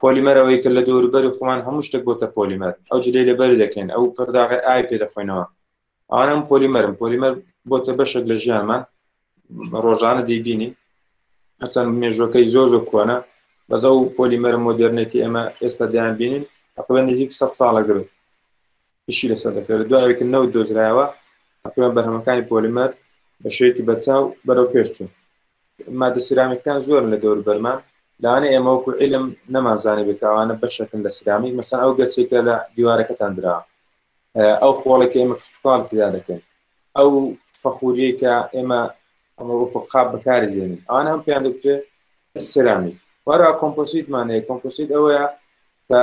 پۆلیمەر ئەوەی کە لە دەوروبەری خۆمان هەموو شتێک بۆتە پۆلیمەر ئەو جلەی لەبەر دەکەین ئەو پەرداغەی ئاوی پێ دەخۆینەوە ئەوانە ئەم پۆلیمەرن پۆلیمەر بۆتە بەشێک لە ژیانمان ڕۆژانە دەیبینین هەرچەند مێژوەکەی زۆر زۆر کۆنە بەس ئەو پۆلیمەر مۆدررنێتی ئێمە ئێستا دەیان بینین تقریبا نزیک سە ساڵە گرت ئیشی لەسەر دەکرێت لە دوایەوەی کە نەوت دۆزرایەوە تقریبا بەرهەمەکانی پۆلیمەر بە شێوەیەکی بەرچاو بەرەو پێش چوون مادە سرامیکتان زۆرن لە دەور بەرمان لەوانە ئێمە وەکو علم نەمانزانانی بێتاوانە بەشەکن لە سرامیک مەسان ئەو گەچێکە لە دیوارەکەتان درا ئەو خۆڵێک ئێمە کشتتوال تدا دەکەین ئەو فەخوریە کە ئێمە ئەمە وەکو قاب بەکاری دێنین ئەوان هەم پێیان دەکرێت سرامی وارا کۆمپۆسیتمانەیە کۆمپۆسیت ئەوەیە کە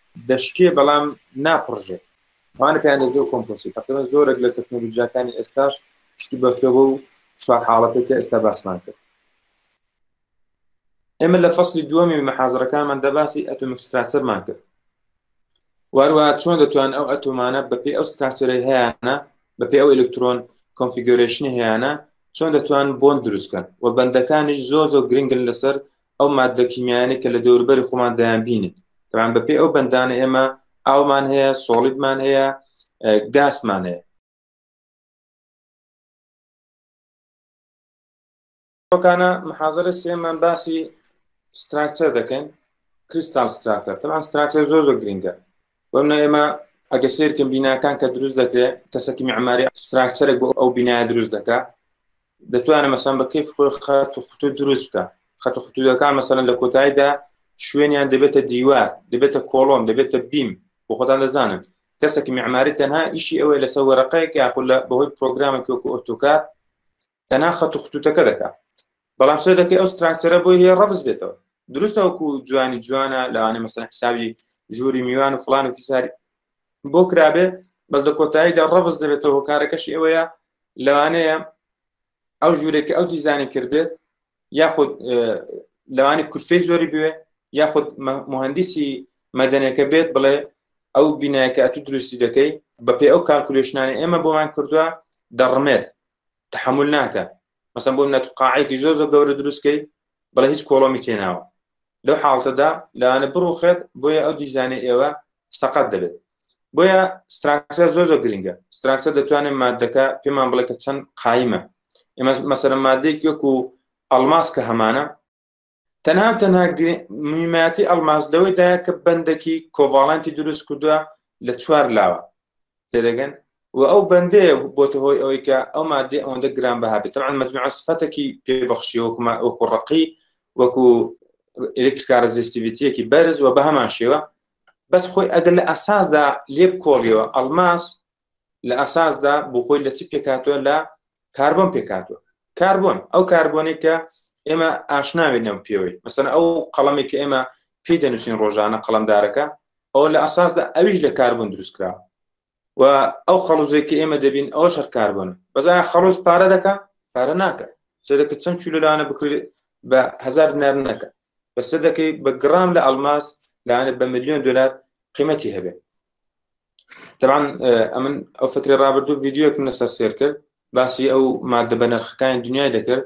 دەشکێ بەڵام ناپڕژێ ئەوانە پێیان دەوترێت کۆمپۆسی تقریبا زۆرێک لە تەکنۆلۆژیاکانی ئێستاش پشت و بەستەوە بەو چوار حاڵەتێک کە ئێستا باسمان کرد ئێمە لە فەصلی دووەمی مەحازرەکانمان دەباسی ئەتۆمیک ستراچەرمان کرد واروا چۆن دەتوان ئەو ئەتۆمانە بەپی ئەو ستراچەرەی هەیەە بەپی ئەو ئەلکترۆن کۆنفیگۆرشنی هەیەە چۆن دەتوان بۆن دروستکەن و بەندەکانیش زۆر زۆر گرنگن لەسەر ئەو ماددە کیمیایانەی کە لە دەوروبەری خۆمان دەیانبینن تەبان بەپێی ئەو بەندانە ئێمە ئاومان هەیە سۆڵیدمان هەیە گاسمان هەیە ئەوکانە محازرە سێمان باسی ستراکچەر دەکەین کریستال ستراکتەر تەمان ستراکچەر زۆر زۆر گرنگە بەم ئێمە ئەگە سێرکن بیناکان کە دروست دەکرێت کەسەکی معماری ستراکچەرێک بۆ ئەو بینایە دروست دەکات دەتوانێت مەسەن بە کەیف خۆی خەت و خطوط دروست بکە خەت و خطوطەکان مەسەن لە کۆتاییدا شوێنیان دەبێتە دیوار دەبێتە کۆڵۆن دەبێتە بیم بۆ خۆتان دەزانن کەسێکی معماری تەنها ئیشی ئەوەی لەسەر وەرەقەیەک یاخود لە بەهۆی پرۆگرامە کۆکو ئۆتۆکا تەنها خەت و خطوطەکە دەکات بەڵام سەر دەکەی ئەو ستراکتەرە بۆ هەیە ڕەفز بێتەوە دروستە وەکو جوانی جوانە لەوانێ مەسەن حسابی ژووری میوان و فلان و فیساری بۆ کرابێ بەس لە کۆتاییدا ڕەفز دەبێتەوە کارەکەش ئەوەیە لەوانەیە ئەو ژوورێکی ئەو دیزانی کردێت یاخود لەوانی کورفەی زۆری بوێ یاخود مهندسی مەدەنەکە بێت بڵێ ئەو بینایەکە ئەتو دروستی دەکەی بەپی ئەو کارکولشنانی ئێمە بۆمان کردووە دەڕمێت تحمل ناکە مەسم بۆم نەت قاعێکی زۆر زۆر گەورە دروستکەی بەڵێ هیچ کۆڵۆمی تێناوە لەو حاڵتەدا لەوانە بڕوخێت بۆیە ئەو دیزانە ئێوە سەقەت دەبێت بۆیە ستراکسە زۆر زۆر گرنگە ستراکسە دەتوانێت مادەکە پێمان بڵێ کە چەند قایمە ئێمە مەسەرە مادەیەک وەکو ئەلماس کە هەمانە تەنها تەنها میماتی ئەلماس لەوەیدایە کە بەندێکی کۆڤاڵەنتی دروست کردووە لە چوار لاوە تێدەگەن؟ و ئەو بەندەیە بۆتە هۆی ئەوەی کە ئەو مادەی ئەوەندە گران بەها بێت تەعاان مجموعە سفەتێکی پێبەخشی وەکوما وەکو ڕقی وەکو ئلکتکارە زیستیویتیەکی بەرز و بە هەمان شێوە بەس خۆی ئەگەر لە ئەساسدا لێ بکۆڵیەوە ئەلماس لە ئەساسدا بۆ خۆی لە چی پێکاتوە لە کاربن پێکاتوە کاربن ئەو کاربۆنێک کە ئێمە ئاشناوێنەوە پێوەی مەسەن ئەو قەڵمێک کە ئێمە پێی دەنووسین ڕۆژانە قەڵمدارەکە ئەوە لە ئەساسدا ئەویش لە کاربن دروست کرا و ئەو خەڵوزێک کە ئێمە دەبین ئەو شەر کاربن بەزای خەڵوز پارە دەکە پارە ناکە سەدەکە چەند چولەلانە بکرێت بە هزار نار نەکە بە سەدەکەی بە گرام لە ئەلماس لاانە بە میلیۆن دلار قیمەتی هەبێت طبعا ئەمن ئەو فتری رابرردوو یددیوەکم لەسەر سێر کرد باسی ئەو مادە بە نرخەکانی دنیای دەکرد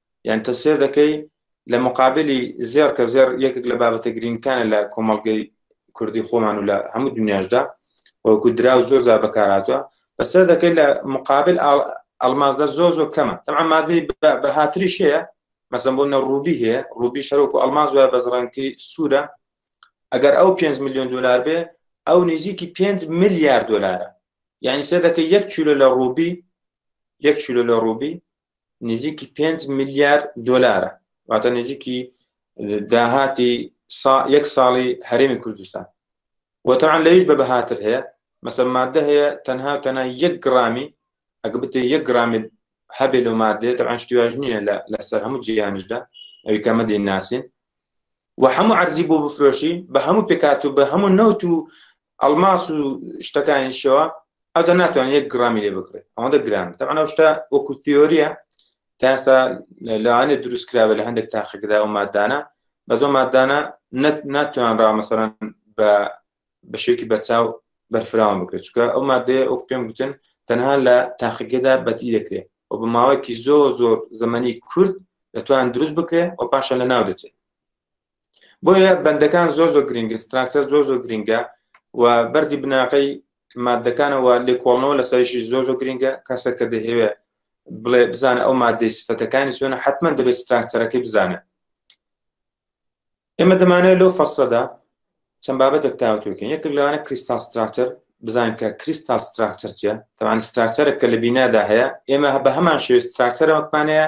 یان تۆ سێر دەکەی لە مقابلی زێر کە زێر یەکێک لە بابەتە گرنگکانە لە کۆمەڵگەی کوردی خۆمان و لە هەموو دنیاشدا وەکو درا و زۆر زار بەکاراتوە بەسەر دەکەی لە مقابل ئەلمازدە زۆر زۆر کەمە تەعا مادەی بە هاتری شەیە مەسم بۆ نە ڕوبی هەیە ڕوبی شەرۆک و ئەلماز وە بەزڕەنکی سوورە ئەگەر ئەو 5 میلیۆن دلار بێ ئەو نزیکی 5 میلیارد دلارە یعنی سێ دەکە یەک چولە لە ڕوبی یەک چولە لە ڕوبی نزیکی پێنج ملیار دۆلارە واتە نزیکی داهاتی یەک ساڵی هەرێمی کوردستان وەتەعان لەویش بە بەهاتر هەیە مەسە مادە هەیە تەنها تەنها یەک گرامی ئەگە بتێ یەک گرامی هەبێ لە مادێ تەعان شتیواژ نییە لەسەر هەموو جیانشدا ئەوی کەمە دێ ناسین و هەموو عەرزی بۆ بفرۆشی بە هەموو پێکات و بە هەموو نەوت و ئەڵماس و شتەکانی شەوە ئەودا ناتوانێت یەک گرامی لێ بکرێت ئەوەندە گران تەمانە شتە وەکو تیۆریە تاستا لەوانێ دروست کراوە لە هەندێک تاقیکدا و مادانە بەزۆ مادانە ناتوان ڕامەسەران بە بە شێوکی بەرچاو بەرفراوان بکرێت چکە ئەو مادەیە ئەو پێم گوتن تەنها لە تاقیگەدا بەتی دەکرێت و بە ماوەیەکی زۆر زۆر زمانی کورد دەتوان دروست بکرێت و پاشە لە ناو دەچێت بۆیە بەندەکان زۆر زۆر گرنگە ستراکتەر زۆر زۆر گرنگە و بەری بناغی مادەکانەوە لێکۆڵنەوە لە سەرشی زۆر زۆر گرنگە کەسە کە دەهەوێ بڵێ بزانە ئەو مادەی سفەتەکانی چۆنە حتمما دەبێت ستراکتەرەکەی بزانە ئێمە دەمانێت لەو فەسلەدا چەند بابەتێک تاوتوکن یەک لەوانە کریستال ستراکتەر بزان کە کریستال ستراکتەر چیە تەوان ستراکتەرە کە لە بینادا هەیە ئێمە هە بە هەمان شێ ستراکتەرەوەکمانەیە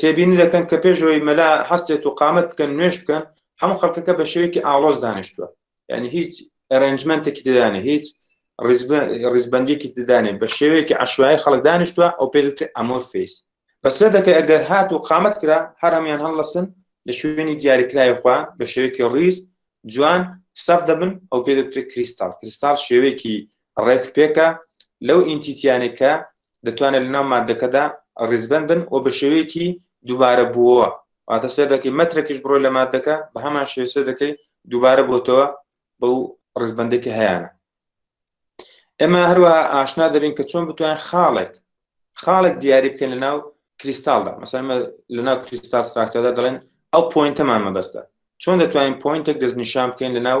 تێبینی دەکەن کە پێش ئەوەی مەلا هەستێت و قامەت بکەن نوێژ بکەن هەموو خەڵکەکە بە شێوەیەکی ئاڵۆز دانیشتووە یعنی هیچ ئەرنجمنتێکی دەدانێ هیچ ڕیزبندێکی دەدانێ بە شێوەیەکی عشوای خەڵک دانیشتووە ئەو پێدوت ئەمۆ فیس بەسە دەکە ئەگەر هات و قامەت کرا هەرمیان هەڵلەسن لە شوێنی دیاریکراوی خوا بە شێوەیەکی ڕیز جوان سەف دەبن ئەو پێدوت کریستال کریستال شێوەیەکی ڕێک پێکە لەو ئینتیتیانێکە دەتوانێت لەناو مادەکەدا ڕیزبەن بن و بە شێوەیەکی دووبارە بووەوە واتە سێ دەکەی مەترەکیش بڕۆ لە مادەکە بە هەمان شێسە دەکەی دووبارە بۆتەوە بەو ڕزبندێکی هەیەە ئێمە هەروە ئاشنا دەبین کە چۆن بتوانین خاڵێک خاڵێک دیاری بکەین لە ناو کریستالدا مەسەر لە ناو کریستال ستراکتەدا دەڵێن ئەو پوینتەمان مەبەستە چۆن دەتوانین پوینتێک دەستنیشان بکەین لە ناو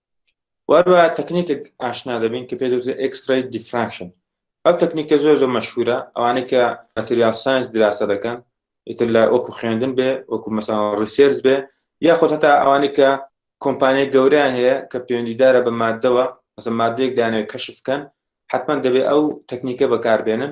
وەروە تەکنیکێک ئاشنا دەبین کە پێدوترێت ئەکسرای دیفراکشن ئەو تەکنیکە زۆر زۆر مەشهورە ئەوانەی کە مەتریال ساینس دراسە دەکەن ئیتر لە وەکو خوێندن بێ وەکو مەسا ڕیسێرز بێ یاخود هەتا ئەوانەی کە کۆمپانیای گەوریان هەیە کە پەیوەندیدارە بە مادەوە مەسە مادەیەک دانێ کەشفکەن حتمما دەبێت ئەو تەکنیکە بەکاربێنن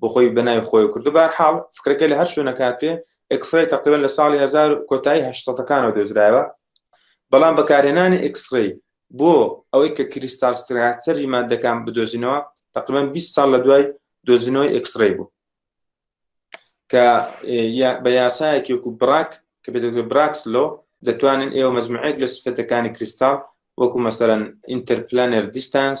بۆ خۆی بە ناوی خۆی کردو بار حاڵ فکرەکە لە هەر شوێنە کاتێ ئەکسڕی تقریبان لە ساڵی هزار کۆتایی هەشتەکانەوە دۆزرایەوە بەڵام بەکارهێنانی ئەکسڕی بۆ ئەوەی کە کریستال ستراچەری مادەکان بدۆزینەوە تقریبان 20 ساڵ لە دوای دۆزینەوەی ئەکسڕی بوو کە بە یاسایەکی وەکو براک کە بێت براکس لۆ دەتوانن ئێوە مەزمعێک لە سفەتەکانی کریستال وەکو مەسەرەن ئینتەرپلانەر دیستانس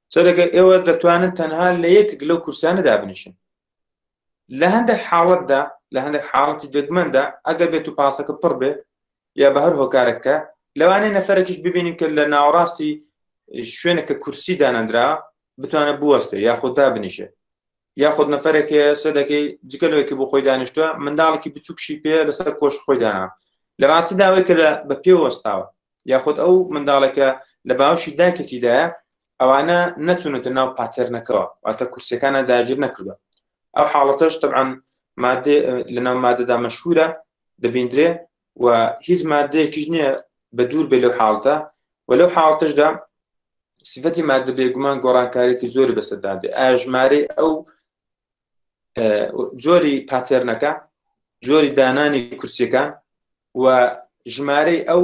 چرەکە ئێوە دەتوانن تەنها لە یەکێک لەو کورسانە دابنیشن لە هەندێک حاڵەتدا لە هەندێک حاڵەتی دەگمەندا ئەگەر بێت و پاسەکە پڕ بێ یا بە هەر هۆکارەکە لەوانەیە نەفرەکیش ببینیم کە لە ناوەڕاستی شوێنە کە کورسی دانەندرا بتوانە بوەستێ یاخۆدا بنیشێ یاخود نەفرێک هەیە سەدەکەی جگە لەوەی کە بۆ خۆی دانیشتووە منداڵێکی بچووکشی پێ لەسەر کۆش خۆی دانا لە ڕاستی داوای کە لە بە پێ وەستاوە یاخود ئەو منداڵێکە لە باوشی داکێکیدایە ئەوانە نەچونەتە ناو پاتێرنەکەەوە واتە کورسەکانە داگیر نەکردە ئەو حاڵەتەش طبعاان مادێ لە ناو مادەدا مەشهورە دەبیندرێ و هیچ مادەیەکیش نییە بە دوور بێ لەو حاڵتە و لەو حاڵتشدا سفەتی مادە بێگومان گۆڕانکارێکی زۆری بەسەدادێ ئاژمارەی ئەو جۆری پاتێرنەکە جۆری دانانی کورسیەکان و ژمارەی ئەو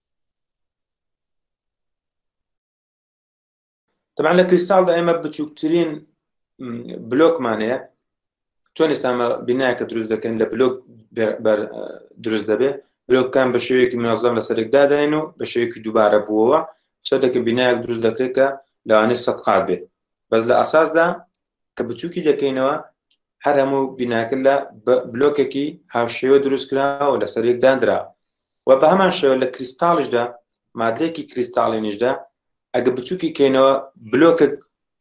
طبعا لە کریستاڵدا ئێمە بچووکترین بلۆکمان هەیە چۆن ئێستامە بینایەکە دروست دەکەین لە بلۆک دروست دەبێت بلۆکان بە شێوەیەکی منازڵم لە سەرێکداداین و بە شێوەیەکی دووبارە بووەوە شتێکە بینایەک دروست دەکرێت کە لەوانێ سەد قات بێت بەس لە ئاساسدا کە بچووکی دەکەینەوە هەر هەموو بیناکە لە بلۆکێکی هاوشێوە دروستکراوە لە سەرێک دانرا و بە هەمان شێوە لە کریستاڵیشدا مادەیەکی کریستاڵینیشدا ئەگە بچووکی کەینەوە بلۆکە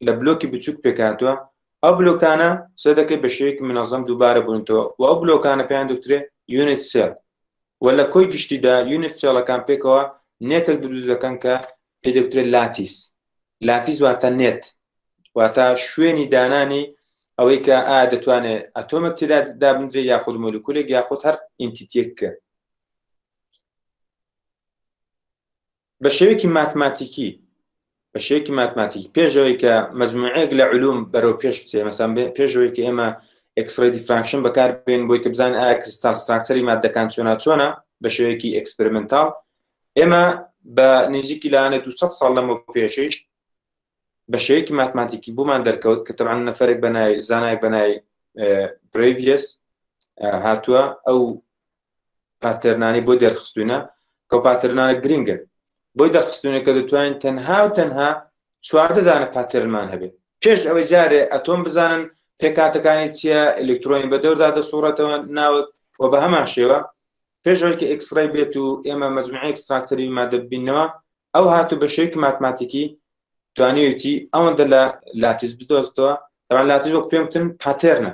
لە بلۆکی بچووک پێکاتوە ئەو بلۆکانە سێ دەکەی بە شێوەیەکی منەظەم دووبارە بوونتەوە و ئەو بلۆکانە پێیان دکترێ یونت سێل و لە کۆی گشتیدا یونت سێڵەکان پێکەوە نێتێک دروست دەکەن کە پێ دەکترێت لاتیس لاتیس واتە نێت واتە شوێنی دانانی ئەوەی کە ئا دەتوانێت ئەتۆمەک تێدا دابنرێ یاخود مۆلیکولێک یاخود هەر ئینتیتێک کە بە شێوێکی ماتماتیکی بە شێوێکی ماتماتیکی پێشەوەی کە مەزموعەیەک لە علوم بەرەو پێش بچێ مەسان پێشەوەی کە ئێمە ئەکسڕی دیفراکشن بەکار بێن بۆی کە بزان ئایا کریستال ستراکتەری مادەکان چۆنا چۆنا بە شێوەیەکی ئەکسپرمنتال ئێمە بە نێزیکی لایەنە دو سەد ساڵ لەمە پێشش بە شەیەکی ماتماتیکی بوومان دەرکەوت کە تەعاان نەفرێک بەنای زانایەک بەنای پرڤس هاتووە ئەو پاتەرنانی بۆ دەرخستونە کە پاتەرنانە گرنگن بۆی دەخستونە کە دەتوانین تەنها و تەنها چواردەدانە پاتەرمان هەبێت پێش ئەوەی جارێ ئەتۆم بزانن پێکاتەکانی چییە ئەلکترۆنی بە دەوردا دەسوڕێتەوە ناوت و بە هەمان شێوە پێش ئەوەی کە ئێکسڕەی بێت و ئێمە مەجموعی ئێکستراکتەری مادە ببینەوە ئەو هاتو بە شێوەیەکی ماتماتیکی توانیویەتی ئەوەندە لە لاتیس بدۆزتەوە تەوان لاتیس وەک پێم وتن پاتێرنە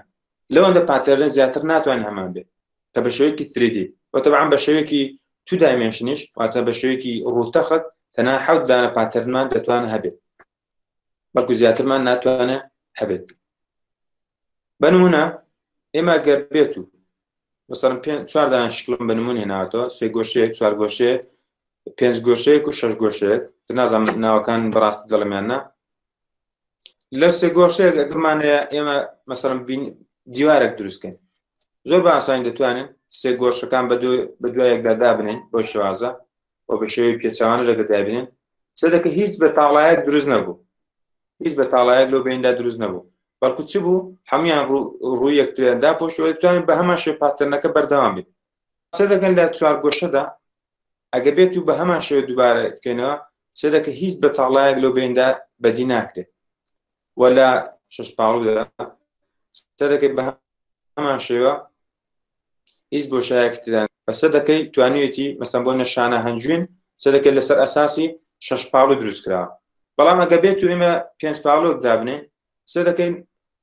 لەوەندە پاتێرنە زیاتر ناتوانین هەمان بێت کە بە شێوەیەکی سریدی و تەبعان بە شێوەیەکی تو دایمێنشنیش واتە بە شێوەیەکی ڕووتەخت تەنها حەوت دانە پاتێرنمان دەتوان هەبێت بەڵکو زیاترمان ناتوانێت هەبێت بەنمونە ئێمە گەر بێت و مثلەن پێ چواردان شکلم بە نمونێ ناتەوە سێ گۆشەیەک چوار گۆشەیەک پێنج گۆشەیەک و شەش گۆشەیەک نازانم ناوەکان بەڕاست دەڵمیاننا لە سێ گۆشەیەک ئەگرمانەیە ئێمە مەسەرم بین دیوارێک دروستکەین زۆر بە ئاسانی دەتوانین سێ گۆشەکان بە دوایەکدا دابنین بۆ شوازە و بە شێوەی پێچوانە لەگە دابێن سەدەکە هیچ بە تاڵایەک دروست نەبوو هیچ بە تاڵایەک لۆ بیندا دروست نەبوو بەڵکو چ بوو هەموان ڕوو یەکتریاندا پۆشتوان بە هەمان شێ پاتەنەکە بەردەوام بێت سەدەکەن لە چوار گۆشەدا ئەگە بێت و بە هەمان شێوە دووبارە بکەینەوە سەدەکە هیچ بە تاڵایەک لۆ بیندا بەدی ناکرێت وە لە شش پاڵودا سەدەکە بە هەمان شێوە هیچ بۆشایەکی تدا بە سەدەکەی توانیوێتی مەسەن بۆ نەشانە هەنجوین سەدەکەی لەسەر ئەساسی شەش پاڵو دروست کرا بەڵام ئەگە بێت و ئێمە پێنج پاڵۆک دابنێ سەدەکەی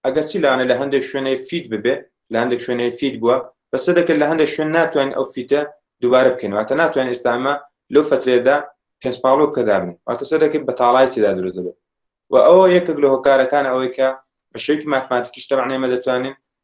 ئەگەر چی لاانە لە هەندێک شوێنەی فیت ببێ لە هەندێک شوێنەی فیت بووە بە سەدەکە لە هەندێک شوێن ناتوانین ئەو فیتە دووبارە بکەین واتە ناتوان ئێستامە لەو فترێدا پێنج پاڵۆ کە دابنێ واتە سەدەکەی بەتاڵای تێدا دروست دەبێت و ئەوە یەکێک لە هۆکارەکان ئەوەی کە بە شێوکی ماتماتیکیش تەمانێمە دەتوانین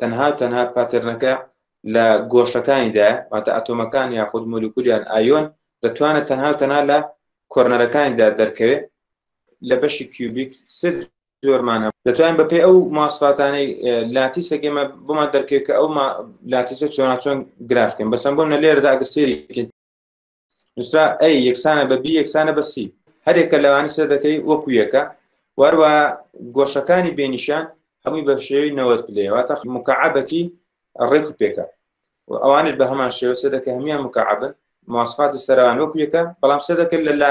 تەنها و تەنها پاتێرنەکە لە گۆشەکانیدایە، واتە ئەتۆمەکان یاخود مۆلیکول یان ئایۆن، دەتوانێت تەنها و تەنها لە کۆرنەرەکانیدا دەرکەوێت، لە بەشی کیوبیک سێ جۆرمان هەبوو، دەتوانین بەپێی ئەو مواصفاتانەی لاتیسێک ئێمە بۆمان دەرکەوێت کە ئەو لاتیسە چۆناچۆن گراف بکەین، بەسەمبۆل نە لێرەدا ئەگەر سەیری بکەین، نووسرا ئەی یەکسانە بە بی یەکسانە بە سی هەرێکە لەوانی سێ دەکەی وەکو یەکە وەروە گۆشەکانی بێنیشان هەمووی بە شێوی نەوەت پلێواتە مکعبەکی ڕێک و پێکە و ئەوانش بە هەمان شێوە سێ دەکە هەمیان مکعبن ماسفاتی سەران وەکو یەکە بەڵام سێ دەکرد لە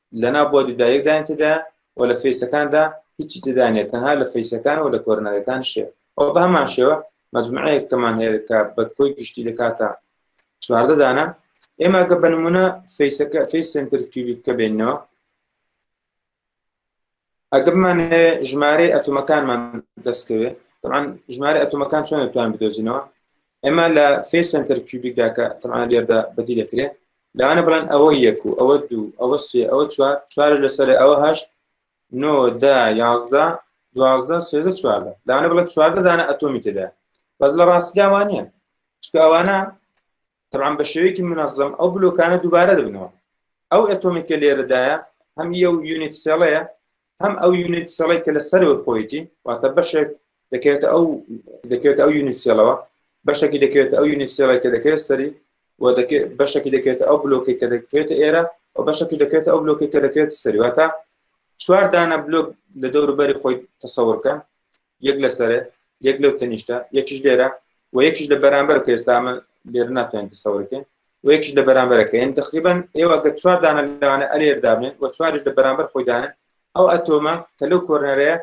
لەناو بۆ ددایەک دایان تێدا و لە فەیسەکاندا هیچی تێدا نیە تەنها لە فەیسەکان و لە کۆرنەرەکان شێ ئەو بە هەمان شێوە مجموعەیەک کەمان هەیە کە بە کۆی گشتی دەکاتە چواردە دانە ئێمە گە بە نمونە فەیسەکە فەی سنتر تیوبیت کە بێنەوە ئەگەر بمانەوێ ژمارەی ئەتومەکانمان دەستکەوێت تەمان ژمارە ئەتومەکان چۆن توان بدۆزینەوە ئێمە لە فێ سنتەر کیوبیکدا کە تەمان لێردا بەدی دەکرێت لەوانە بڵێن ئەوە یەک و ئەوە دوو ئەوە سێ ئەوە چوار چوار لەسەر ئەوە هەشت نۆ دا یازدە دوازدە سێزە چواردە لەوانە بڵێت چواردە دانە ئەتۆمی تێدا بەس لە ڕاستیداوانە چکە ئەوانە تەبعەن بە شێوەیەکی منەزەم ئەو بلۆکانە دووبارە دەبنەوە ئەو ئەتۆمی کە لێرەدایە هەم یە و یونیت سێڵەیە هەم ئەو یونیت سێڵی کە لە سەرەوە خۆیتی واتە بەشێک دەکەێت ئەو دەکەێت ئەو یونیت سێڵەوە بەشێکی دەکەێت ئەو یونیت سێڵی کە دەکەێت سەری و بەشێکی دەکەێت ئەو بلۆکی کە دەکرێت ئێرە و بەشەکە دەکرێت ئەو بلۆکی کە دەکرێت سەریواتە چوار دانە بلۆک لە دەوروبەری خۆی تەسەورکە یەک لە سەرێ یەک لەو تەنیشتە یەکیش لێرە و یەکیش لە بەرامبەر کە ئێستا من لێر ناتوانین تەسەورەکەین و یەکیش لە بەرامبەرەکە یعنی تقریبا ئێوە گە چوار دانە لەوانە ئەلێر دابنێن و چواریش لە بەرامبەر خۆی دانن ئەو ئەتۆمە کە لەو کۆرنەرەیە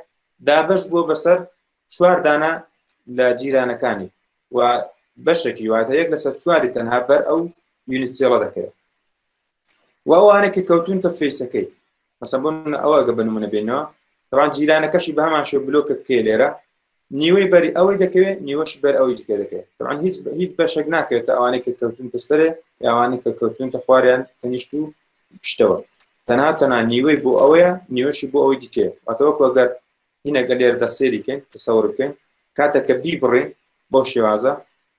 دابەش بووە بەسەر چوار دانە لە جیرانەکانی و بەشێکی واتە یەک لەسەر چواری تەنها بەر ئەو یونیسیڵە دەکەێت و ئەوانە کە کەوتونتە فێسەکەی مەسە بۆ ئەوەگە بنمونە بێنەوە تەوان جیرانەکەشی بە هەمان شێ بلۆکە کێ لێرە نیوەی بەری ئەوەی دەکەوێت نیوەش بەر ئەوەی جکە دەکەێت تەوان هیچ هیچ بەشێک ناکرێت ئەوانەی کە کەوتونتە سەرێ یاوانەی کە کەوتونتە خواریان تەنیشت و پشتەوە تەنها تەنا نیوەی بۆ ئەوەیە نیوەشی بۆ ئەوەی دیکە ئەتەوە کۆگەر هینەگە لێردا سێریکەین تەسەور بکەین کاتە کە بی بڕین بۆ شێوازە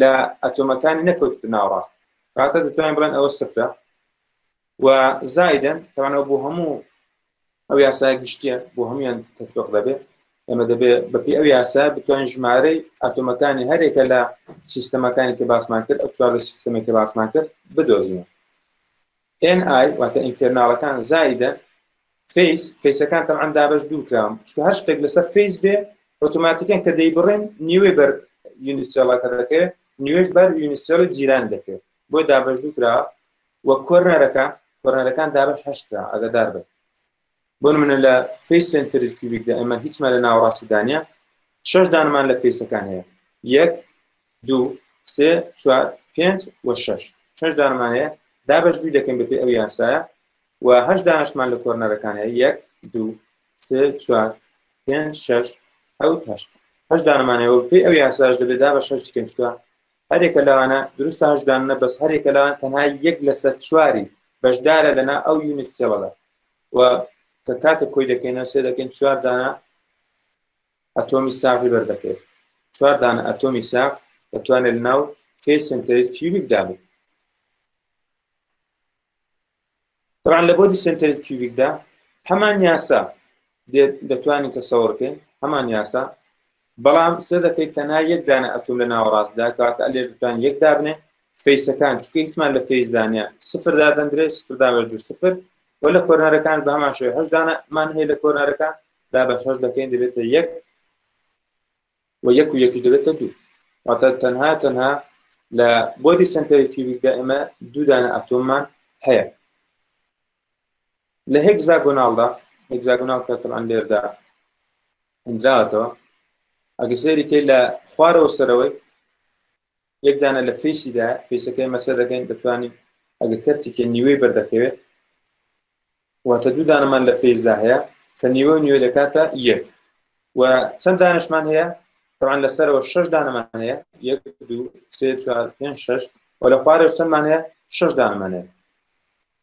لە ئەتۆمەکانی نەکەوتوتە ناوەڕاست کاتە دەتوانین بڵێن ئەوە سفرە و زایدەن تەوانەوە بۆ هەموو ئەو یاسای گشتیە بۆ هەموان تەتبق دەبێت ئێمە دەبێت بەپی ئەو یاسا بتوانین ژمارەی ئەتۆمەکانی هەرێکە لە سیستەمەکانی کە باسمان کرد ئەو چوار لە سیستەمێکی باسمان کرد بدۆزین ئێن ئای واتە ئینتێرناڵەکان زائیدەن فەیس فەیسەکان تەبعەن دابەش دوو کراون چکە هەر شتێک لەسەر فەیس بێ ئۆتۆماتیکەن کە دەیبڕین نیوەی بەر یونیسێڵەکە دەکەوێت نیوێش بەر یونیسێڵی جیران دەکەوێت بۆی دابەش دوو کرا و کۆرنەرەکە کۆرنەرەکان دابەش هەشت کرا ئەگەدار بێت بۆ نمونە لە فیس سنتریک کیوبیکدا ئێمە هیچمان لە ناوەڕاستی دانە شش دانمان لە فیسەکان هەیە یەک دو سێ چوار پێنج و شش شش دانمان هەیە دابش دوی دەکەین بەپی ئەو یاسایە و هەش دانشمان لە کۆرنەرەکان هەیە یەک دو سێ چوار پێنج شش حوت هەشت هەش دانمانەوە پێ ئەو یاساش دەبێت دا بە شش دکەین چکە هەرێکە لەوانە دروستە هەشدانە بەس هەرێکە لەوان تەنها یەک لەسەر چواری بەشدارە لەنا ئەو یونیسێڵەدا و کە کاتە کۆی دەکەینە سێ دەکەین چوار دانە ئەتۆمی ساغی بەردەکەێت چوار دانە ئەتۆمی ساغ دەتوانێت ناو فێ سنتەری کیوبیک دابێت طبعا لە بۆدی سنتەری کیوبیکدا هەمان یاسا دێت دەتوانین تەسەوڕ کەین هەمان یاسا بەڵام سێ دەکەیت تەنها یەک دانە ئەتوم لە ناوەڕاستدا کاتە لێ دەتوان یەک دابنێ فەیسەکان چکە هیچمان لە فەیزدانە سفر دادەندرێ سفر دابش دو سفر و لە کۆرنەرەکان بە هەمان شێ هەشدانەمان هەیە لە کۆرنەرەکان دا بە شەش دەکەین دەبێتە یەک و یەک و یەکیش دەبێتە دوو واتە تەنها تەنها لە بۆدی سنتەری کیوبیکدا ئێمە دوودانە ئەتۆممان هەیە لە هێگزاگۆناڵدا، هێگزاگۆناڵ کە تەبعەن لێردا هێنراوەتەوە، ئەگەر سەیری کەی لە خوارەوە سەرەوەی یەک دانە لە فیسیدا فیسەکەی مەسە دەکەین دەتوانین ئەگە کەرتیکە نیوەی بەردەکەوێت واتە دوو دانەمان لە فیزدا هەیە کە نیوە نیوە دەکاتە یەک و چەند دانشمان هەیە طبعا لەسەرەوە شش دانەمان هەیە یەک دوو سێ چوار پێنج شش و لە خوارەوە چەندمان هەیە شش دانەمان هەیە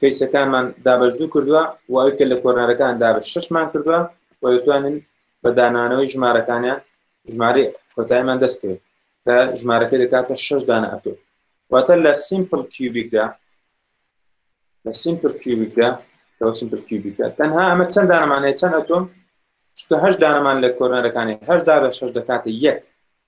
فەیسەکانمان دابەش دوو کردووە و ئەوەی کە لە کۆرنەرەکان دابەش شەشمان کردووە و دەتوانین بە دانانەوەی ژمارەکانیان ژمارەی کۆتایمان دەست کرد کە ژمارەکە دەکاتە شەش دانە ئەتۆ واتە لە سیمپل کیوبیکدا لە سیمپل کیوبیکدا لەوە سیمپل کیوبیکە تەنها ئەمە چەند دانەمانەیە چەند ئەتۆم چکە هەش دانەمان لە کۆرنەرەکانی هەشدا بە شەش دەکاتە یەک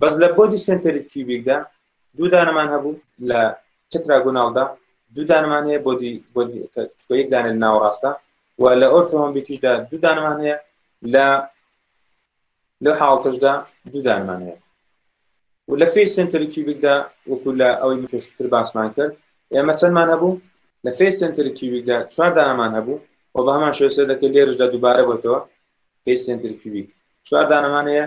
بەس لە بۆدی سنتەری کیوبیکدا دوو دانەمان هەبوو لە تتراگوناڵدا دوو دانەمان هەیە بۆدی بۆدی چکۆ یەک دانە لە ناوەڕاستە و لە ئۆرفۆمبیکیشدا دوو دانەمان هەیە لە لەو حاڵتشدا دوو دانمان هەیە و لە فێ سنتەری کیوبیکدا وەکو لە ئەوەی مکەشتر باسمان کرد ئێمە چەندمان هەبوو لە فێ سنتەری کیوبیکدا چوار دانەمان هەبوو و بە هەمان شێسە دەکە لێرشدا دووبارە بۆتەوە فێ سنتەری کیوبیک چوار دانەمان هەیە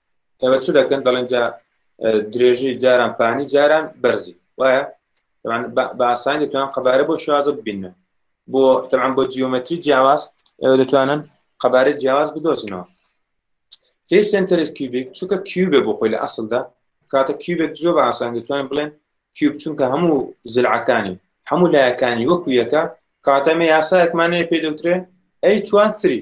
ئێوە چ دەکەن دەڵێن جا درێژی جاران پانی جاران بەرزی وایە بە ئاسان دەتوان قەبارە بۆ شازە ببینن بۆ تەمان بۆ جیۆمەتری جیاواز ئێوە دەتوانن قەبارە جیاواز بدۆزنەوە فێ سنتەر کیوبیک چونکە کیوبێ بۆ خۆی لە ئەسلدا کاتە کیوبێک زۆر بە ئاسان دەتوانین بڵێن کیوب چونکە هەموو زلعەکانی هەموو لایەکانی وەکو یەکە کاتەمە یاسایەکمانەیە پێ دەوترێ ئەی توان سری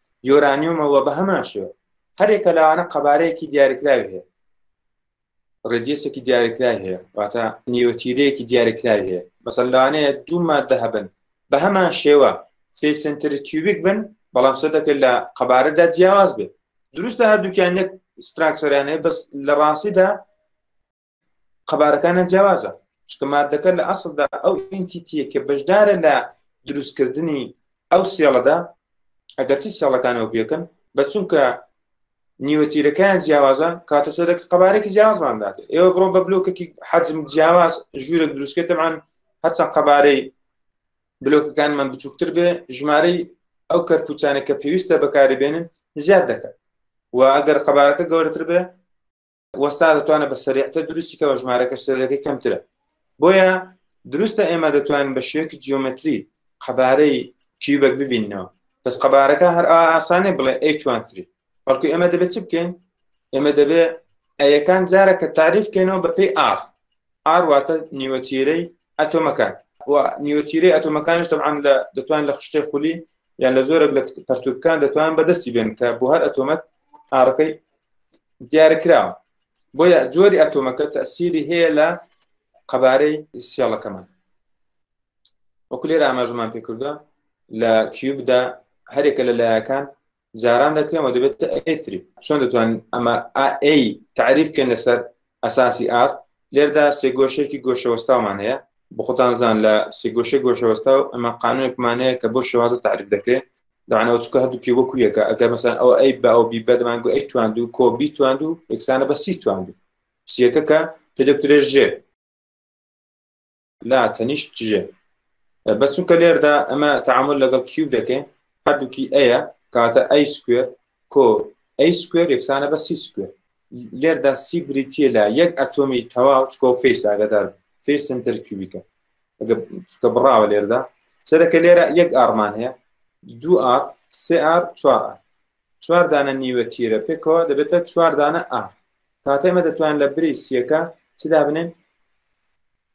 یۆرانیۆمە و بە هەمان شێوە هەرێکە لەوانە قەبارەیەکی دیارکراوی هەیە ڕێدیسێکی دیارکرای هەیە واتە نیوەتیرەیەکی دیارکرای هەیە مەسەن لەوانەیە دوو مادە هەبن بە هەمان شێوە سێ سنتر کیوبیک بن بەڵام سە دەکرێت لە قەبارەدا جیاواز بێت دروستە هەردووکیان یەک ستراکسۆریانەیە بەس لە ڕاستیدا قەبارەکانە جیاوازە چکە مادەکە لە ئەسڵدا ئەو ئینتیتیە کە بەشدارە لە دروستکردنی ئەو سێڵەدا ئەگەرچی سێڵەکانەوە پێکن بە چونکە نیوەتیرەکان جیاوازە کاتە سەرێک قەبارێکی جیاوازماندات ئێوە بڕۆ بە بلوکێکی حەجم جیاواز ژوورێک دروستکردمان هەرچەند قەبارەی بلۆکەکانمان بچووکتر بێ ژمارەی ئەو کەرپوچانێک کە پێویستە بەکاری بێنن زیاد دەکەن و ئەگەر قەبارەکە گەورەتر بێ وەستا دەتوانە بە سەریعتە دروستی کەەوە ژمارەکە سەرەکەی کەمترە بۆیە دروستە ئێمە دەتوانین بە شێوەیەکی جیۆمەتری قەبارەی کیوبەک ببینەوە بەس قەبارەکە هەر ئاسانێ بڵێ ئەیتوانتری بەڵکو ئێمە دەبێت چ بکەین ئێمە دەبێت ئەیەکان جارە کە تعریف کەینەوە بەپی ئار ئار واتە نیوەتیرەی ئەتۆمەکان و نیوەتیرەی ئەتۆمەکانش دەبان لە دەتوان لە خشتەی خولی یان لە زۆرە لە پەرتوکان دەتوان بەدەستی بێن کە بۆ هەر ئەتۆمەت ئارەکەی دیارکراوە بۆیە جۆری ئەتۆمەکە تەسیری هەیە لە قەبارەی سیاڵەکەمان وەکو لێرە ئاماژمان پێکردە لە کیوبدا هەرێکە لە لایەکان جاران دەکرێنەوە دەبێت ئەثری چۆن دەتوان ئەمە ئەی تعریف بکەن لەسەر ئەساسی ئارت، لێردا سێگۆشەیەکی گۆشەوەستاومان هەیە، بۆ خۆتان زان لە سێگۆشەی گۆشەوەستاو ئەمە قانونێکمان هەیە کە بۆ شێوازە تەعریف دەکرێت، دەبعەن ئەوە چونکە هەردووکی وەکو یەکە، ئەگەر مەسەلەن ئەوە ئەی بە ئەوە بی بە دەبان گو ئەی تواندوو کۆ بی تواندوو یەکسانە بە سی تواندوو، سییەکە کە پێ دەگوترێت ژێ. لا تەنیشت جێ بەس چونکە لێردا ئەمە تعامل لەگەڵ کیوب دەکەین هەردووکی ئەیە کاتە ئەی سکوێر کۆ ئەی سکوێر یەکسانە بە سی سکوێر لێردا سی بریتە لە یەک ئەتۆمی تەواو چکۆ فیس ئاگدار فی سنتەر کیوبیکە چکە بڕاوە لێردا سەرەکە لێرە یەک ئارمان هەیە دوو ئار سێ ئار چوار ئار چوار دانە نیوە تیرە پێکەوە دەبێتە چوار دانە ئار کاتە ئێمە دەتوان لە بری سیەکە چ دابنێن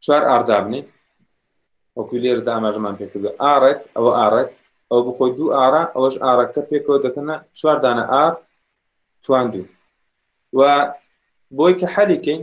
چوار ئار دابنێن وەکوی لێر داماژمان پێکردو ئارەت ئەوە ئارەت ئەو بخۆی دوو ئارا ئەوەش ئارەکە پێکەوە دەکەنە چوار دانە ئار تواندوو و بۆی کە حەلیکەین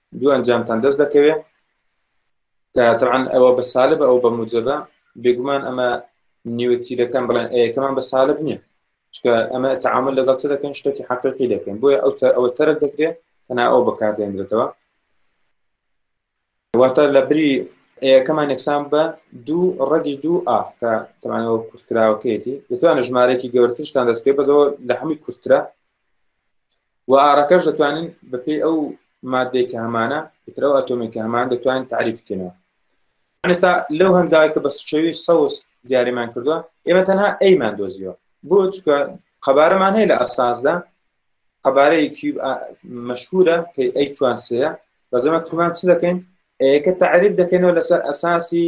دوو ئەنجامتان دەست دەکەوێت کە تەعاان ئەوە بە سالە بە ئەو بە موجەبە بێگومان ئەمە نیوەتیرەکان بڵێن ئەیەکەمان بە سالب نییە چکە ئەمە تعامل لەگەڵ چ دەکەن شتێکی حقیقی دەکەن بۆیە ئەو ئەوە تەرک دەکرێت تەنا ئەو بەکاردێنرێتەوە واتە لە بری ئەیەکەمان یەکسان بە دوو ڕەگی دوو ئا کە تەمانەوە کورتکراوەکەیەتی دەتوانە ژمارەێکی گەورترشتان دەستکرێت بەزەوە لە هەمووی کورترە و ئارەکەش دەتوانین بەپێی ئەو مادەی کە هەمانە ئیترەوە ئەتۆمی کە هەمان دەتوانین تعریفکەنەوە ئەستا لەو هەنگاوی کە بە سچەوی سەوز دیاریمان کردووە ئێمە تەنها ئەیمان دۆزیەوە بۆ چکە قەبارەمان هەیە لە ئەساسدا قەبارەی کیوب مەشهورە کە ئەی توانسەیە بەزەمە کمان چ دەکەین ئەیەکە تعریف دەکەینەوە لەسەر ئەساسی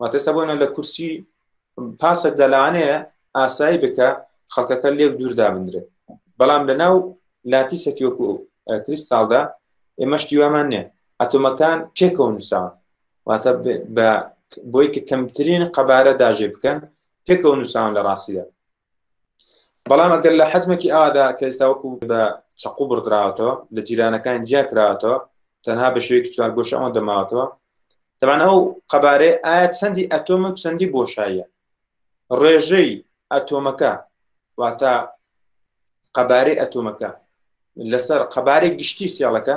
واتێستا بۆنە لە کورسی پاسێک دەلاانەیە ئاسایی بکە خەڵکەکە لێک دووردا بندرێت بەڵام لە ناو لاتی سەکیۆک و کریستالدا ئێمە شتیوامان نیە ئەتۆمەکان پێکەوە نووسان واتە بۆی کە کەمترین قەبارە داژێ بکەن پێکەوە نووسان لە ڕاستیدا بەڵام ئەگەر لە حەجمێکی ئادا کە ئێستا وەکو بە چەقو بڕدراوەتەوە لە جیرانەکان جیا کراوەتەوە تەنها بە شێوەیەکی چوارگۆش ئەوەن دەماوەتەوە دەبان ئەو قەبارێ ئایا چەندی ئەتۆم و چەندی بۆشاییە ڕێژەی ئەتۆمەکە واتە قەبارەی ئەتۆمەکە لەسەر قەبارەی گشتی سیاڵەکە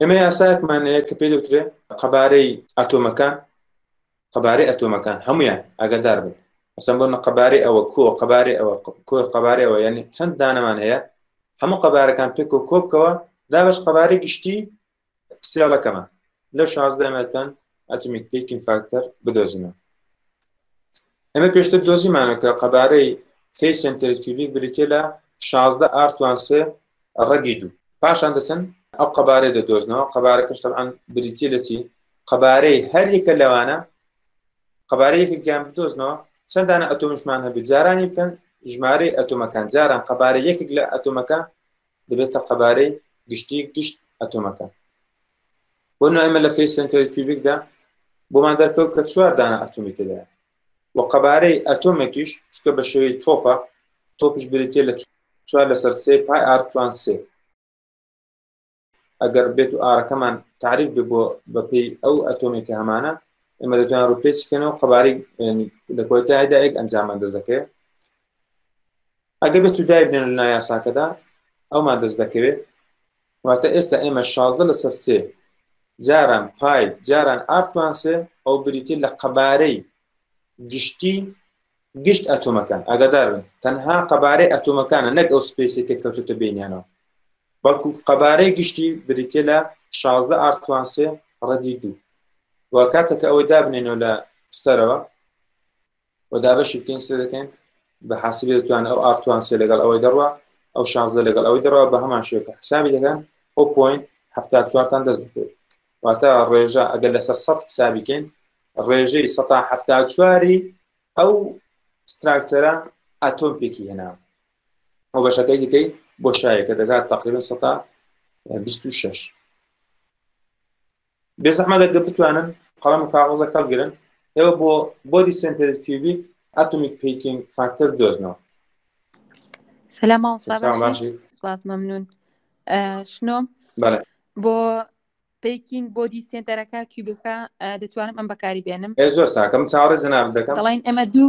ئێمە یاسایەکمان هەیە کە پێی دەوترێ قەبارەی ئەتۆمەکان قەبارەی ئەتۆمەکان هەمویان ئەگەدار بن ئەسم بۆ قەبارەی ئەوە کۆ قەبارەی ئەوە کۆ قەبارەی ئەوە یعنی چەند دانەمان هەیە هەموو قەبارەکان پێک و کۆبکەوە دابش قەبارەی گشتی سیاڵەکەمان لە شازدەمەکان ئەتومیک پێکین فاکتەر بدۆزینەوە ئەمە پێشتر دۆزیمانە کە قەبارەی سی سنتەرکیوبیک بریتێ لە شازدە ئارتوانسێ ڕەگی دوو پاشان دەچن ئەو قەبارەی دەدۆزنەوە قەبارەکەش تەعاان بریتە لە چی قەبارەی هەریەکە لەوانە قەبارەیەکێکیان بدۆزنەوە چەندانە ئەتۆمشمان هەبێت جارانی بکەن ژمارەی ئەتۆمەکان جاران قەبارە یەکێک لە ئەتۆمەکە دەبێتە قەبارەی گشتی گشت ئەتۆمەکە بۆ نایمە لە فی سنتەری کیوبیکدا بۆمان دەرکەوت کە چوار دانە ئەتومی تێدا و قەبارەی ئەتۆمێکیش چونکە بە شێوەی تۆپە، تۆپیش بریتییە لە چوار لەسەر سێی پای ئار توان سێ. ئەگەر بێت و ئارەکەمان تعریف بێ بۆ بەپێی ئەو ئەتۆمی کە هەمانە ئێمە دەتوان ڕوپێچ کەنەوە قەباری لە کۆتایدا یەک ئەنجام ئەندەزەکەی ئەگە بێت و دایبنێن لە نایاساکەدا ئەومان دەست دەکەوێت واتە ئێستا ئێمە شازدە لەسەر سێ جاران پای جاران ئارتوانسێ ئەو بریتی لە قەبارەی گشتی گشت ئەتۆمەکان ئەگەدارن تەنها قەبارەی ئەتۆمەکانە نەک ئەو سپیسێکە کەوتوتە بینیانەوە بەڵکو قەبارەی گشتی بریتە لە شازدە ئارتوانسێ ڕەدی دوو و کاتەکە ئەوەی دابنێنەوە لە سەرەوە و دابەشی بکەین سێ دەکەین بە حاسبی دەتوان ئەو ئارتوان سێ لەگەڵ ئەوەی دەڕوە ئەو شانزە لەگەڵ ئەوەی دەڕەوە بە هەمان شێ کە حسابی دەکەن ئەو پوین هەفتا چوارتان دەست بکەیت واتە ڕێژە ئەگەر لەسەر سە حسابیکەین ڕێژەی سە هەفتا چواری ئەو ستراکتەرە ئەتۆم پێکی هێنا ئەو بەشەکەی دیکەی بۆ شایەکە دەگات تقریبن سە 26 بێزەحمەت ئەگەر بتوانن قەڵەم و کاغەزەک هەڵگرن ئێوە بۆ بۆدی سنتەری کیوبیک ئەتۆمیک پیکینگ فاکتەر بدۆزنەوە سەلام مامۆستا سلام باشی باشیت سپاس مەمنون ئە، شنۆم بەڵێ بۆ پیکینگ بۆدی سێنتەرەکە کیوبەکە ئە، دەتوانم ئەم بەکاری بێنم ئێ زۆر ساکەم چاوەڕێ جەنابت دەکەم دەڵێن ئەمە دوو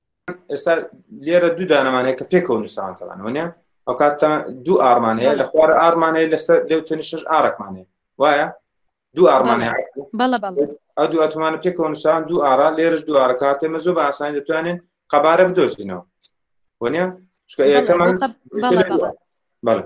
ئێستا لێرە دوو دانەمانەیە کە پێکەوە نووسان کەڵانەوەە ئەو کاتە دوو ئارمانەیە لە خوارە ئارمانەیە لەسەر لەو تەنیشش ئارەکمانێ وایە دوو ئارمانەیە ئەو دوو ئەتومانە پێکەوە نووسان دوو ئارا لێرش دوو ئارە کاتێ مە زۆر بە ئاسانی دەتوانێن قەبارە بدۆزینەوە وەنە چکە یەکەمان بەڵێ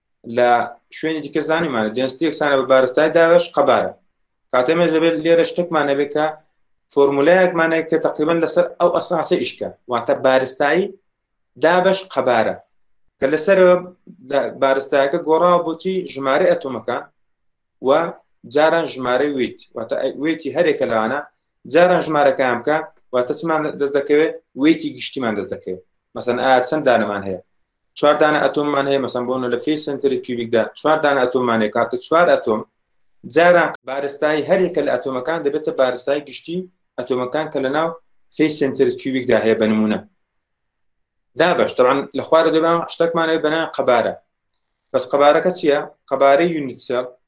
لە شوێنی دیکە زانیمان جنستی یەکسانە بە بارستای داوێش قەبارە کاتێ مێژ دەبێت لێرە شتێکمان نەبێت کە فۆرمولایەکمانەیە کە تقریبان لەسەر ئەو ئەساسە ئیشکە واتە بارستایی دابش قەبارە کە لەسەر بارستایەکە گۆڕاوە بۆچی ژمارە ئەتۆمەکە و جاران ژمارە ویت واتە وێتی هەرێکە لەوانە جاران ژمارەکان بکە واتە چمان دەست دەکەوێت وێتی گشتیمان دەست دەکەوێت مەسەن ئا چەند دانەمان هەیە چوار دانە ئەتۆممان هەیە مەسەن بۆنە لە فی سنتری کیوبیکدا چوار دانە ئەتۆممان هەیە کاتە چوار ئەتۆم جاران بارستایی هەرێکە لە ئەتۆمەکان دەبێتە بارستای گشتی ئەتۆمەکان کە لە ناو فی سنتر کیوبیکدا هەیە بە نمونە دابش طبعا لە خوارە دەبان شتەکمانەوە بەنا قەبارە بەس قەبارەکە چییە قەبارەی یونیتسێل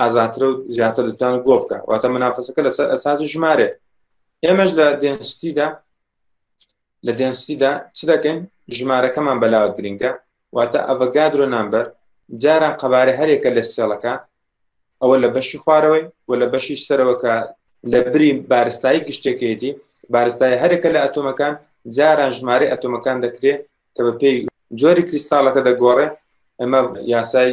ئازاترە و زیاتر دەتوان گۆ بکە واتە منافەسەکە لەسەر ئەساسی ژمارێ ئێمەش لە دێنستیدا لە دێنستیدا چ دەکەین ژمارەکەمان بەلاوە گرنگە واتە ئەڤە گادرۆ نامبەر جاران قەبارە هەرێکە لە سێڵەکە ئەوە لە بەشی خوارەوەی و لە بەشی سەرەوەکە لە بری بارستایی گشتەکەیەتی بارستای هەرێکە لە ئەتۆمەکان جاران ژمارە ئەتۆمەکان دەکرێت کە بە پێی جۆری کریستاڵەکە دەگۆڕێ ئەمە یاسای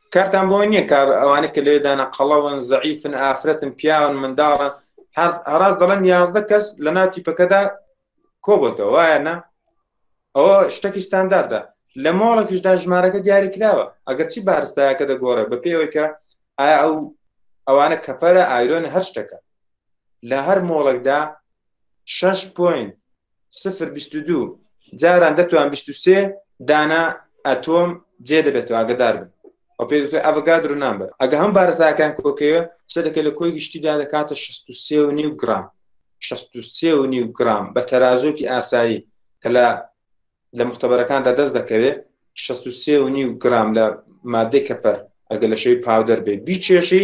کارتان بۆ نییە کار ئەوانە کە لێ دانا قەڵەون زەعیفن ئافرەتن پیاون منداڵن هەراز دەڵێن یازدە کەس لە ناو تیپەکەدا کۆبەتەوە وایە نە ئەوە شتێکی ستانداردە لە مۆڵێکیشدا ژمارەکە دیاری کراوە ئەگەر چی بارستایەکە دەگۆڕێ بە پێوەیکە ئایا ئەو ئەوانە کەپەرە ئایرۆن هەر شتەکە لە هەر مۆڵێکدا شەش پۆین سفر بیست و دوو جاران دەتوان بیست و سێ دانا ئەتۆم جێ دەبێتەوە ئاگدار بن و پێ دکتۆر ئەڤگادر و نامبەر ئەگە هەم بارزاکان کۆکەوە چە دەکە لە کۆی گشتیدا دەکاتە 63 و نیو گرام 63 و نیو گرام بە تەرازۆکی ئاسایی کە لە لە مختبەرەکاندا دەست دەکەوێت 63 و نیو گرام لە مادەی کەپەر ئەگە لە شەوی پاودەر بێ بیچێشی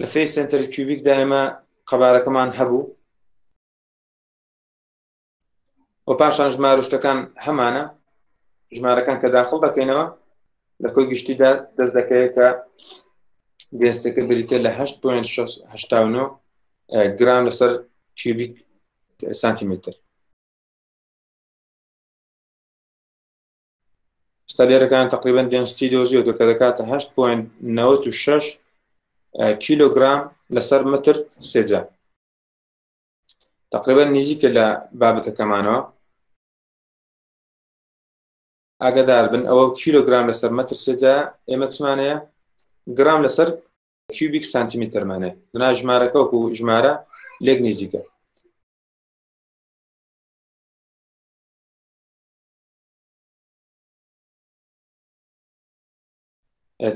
لە فەی سنتەر کیوبیک دا ئێمە قەبارەکەمان هەبوو و پاشان ژمار و شتەکان هەمانە ژمارەکان کە داخڵ دەکەینەوە لە کۆی گشتیدا دەست دەکەوێت کە گەستەکە بریتە لە 8.9 گرام لەسەر کیوبیک سانتیمتر ستادێرەکان تقریبان دێنستی دۆزیۆتە کە دەکاتە 8.96 کیلوگرام لەسەر متر سێجا تقریبا نزیکە لە بابەتەکەمانەوە ئاگدار بن ئەوە کیلوگرام لەسەر متر سێجا ئێمە چمانەیە گرام لەسەر کیوبیک سانتیمیترمانێ دنا ژمارەکە وەکو ژمارە لێک نزیکە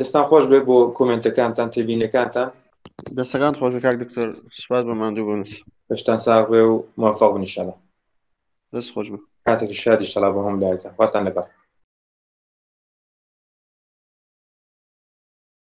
دەستان خۆش بێ بۆ کۆمنتەکانتان تێبینەکانتان دەستەکان خۆش کاک دکتۆر سپاس بە ماندوو بنس دەشتان ساغێ و موفق بنیشەڵە دەست خۆش بە کاتێکی شادی شەڵا بە هەم لایتە خواتان لەگەڵ